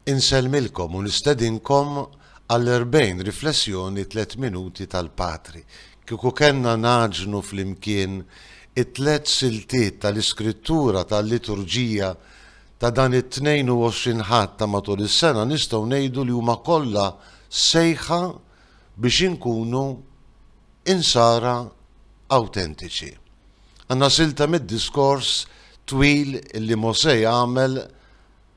Insellmilkom u nistedinkom għall-erbgħin riflessjoni tliet minuti tal-Patri. Kieku kellna ngħaġnu flimkien it-tliet siltiet tal-Iskrittura tal-Liturġija ta' dan it-22 Ħadd ta' matul is-sena nistgħu ngħidu li huma kollha sejħa biex inkunu Insara awtentiċi. Għandna silta mid-diskors twil li Mosè għamel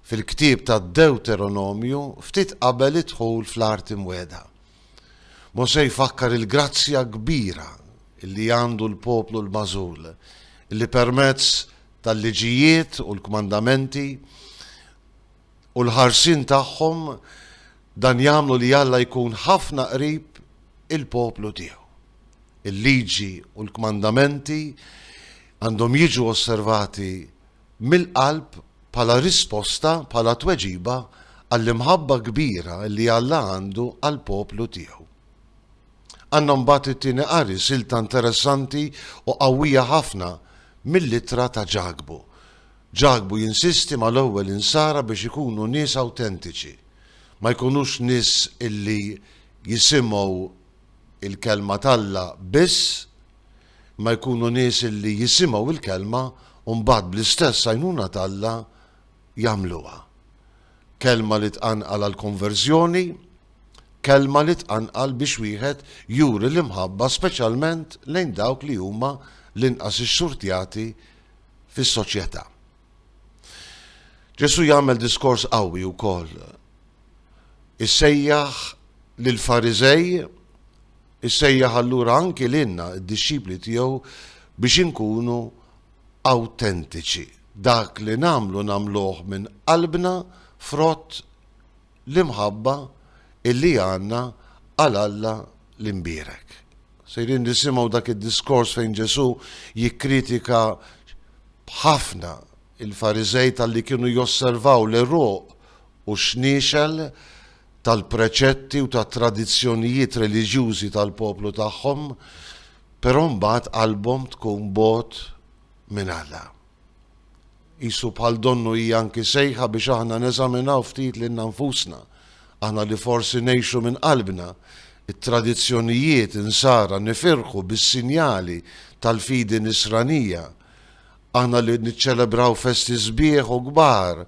fil-ktieb tad-Dewteronomju ftit qabel id-dħul fl-Art Imwiegħda. Mosè jfakkar il-grazzja kbira li għandu l-poplu l-magħżul, li permezz tal-liġijiet u l-kmandamenti, u l-ħarsien tagħhom dan jagħmlu li Alla jkun ħafna qrib il-poplu tiegħu. Il-liġi u l-kmandamenti għandhom jiġu osservati mill-qalb bħala risposta, bħala tweġiba għall-imħabba kbira li Alla għandu għall-poplu tiegħu. Għandna mbagħad it-tieni qari silta interessanti u qawwija ħafna mill-ittra ta' Ġakbu. Ġakbu jinsisti mal-ewwel insara biex ikunu nies awtentiċi, ma jkunux nies li jisimgħu l-Kelma t'Alla biss, imma jkunu nies li jisimgħu l-Kelma u mbagħad bl-istess għajnuna t'Alla jagħmluha. Kelma li tqanqal għall-konverżjoni, kelma li tqanqal biex wieħed juri l-imħabba speċjalment lejn dawk li huma l-inqas ixxurtjati fis-soċjetà. Ġesù jagħmel diskors qawwi wkoll. Issejjaħ lill-Fariżej, issejjaħ allura anki lilna d-dixxipli tiegħu biex inkunu awtentiċi. Dak li nagħmlu nagħmluh minn qalbna frott l-imħabba illi għandna għal Alla l-imbierek. Sejrin nisimgħu dak id-diskors fejn Ġesù jikkritika ħafna il-Fariżej talli kienu josservaw l-għeruq u x-xniexel tal-preċetti u tat-tradizzjonijiet reliġjużi tal-poplu tagħhom, però mbagħad qalbhom tkun bogħod minn Alla. Qisu bħal donnu hija anki sejħa biex aħna neżaminaw ftit lilna nfusna, aħna li forsi ngħixu minn qalbna t-tradizzjonijiet Insara nifirħu bis-sinjali tal-fidi Nisranija, aħna li niċċelebraw festi sbieħ u kbar,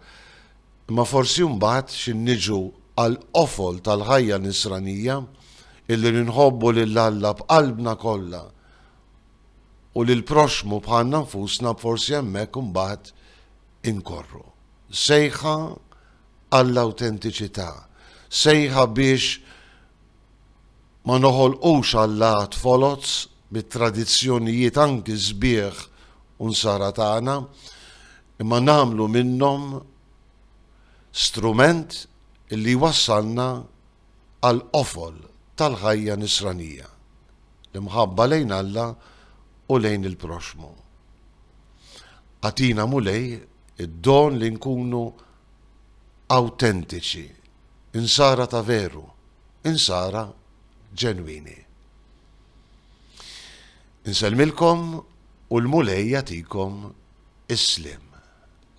imma forsi mbagħad xi niġu għall-qofol tal-ħajja Nisranija, illi li nħobbu lil Alla b'qalbna kollha, u lill-proxxmu bħalna nfusna forsi hemmhekk imbagħad inkorru. Sejħa għall-awtentiċità, sejħa biex ma noħolqux allat foloz mit-tradizzjonijiet anki sbieħ u nsara tagħna, imma nagħmlu minnhom strument li jwassalna għall-qofol tal-ħajja nisranija, l-imħabba lejn Alla u lejn il-proxxmu. Agħtina Mulej id-don li nkunu awtentiċi, Insara ta' veru, Insara ġenwini. Insellmilkom u l-Mulej jagħtikom is-sliem.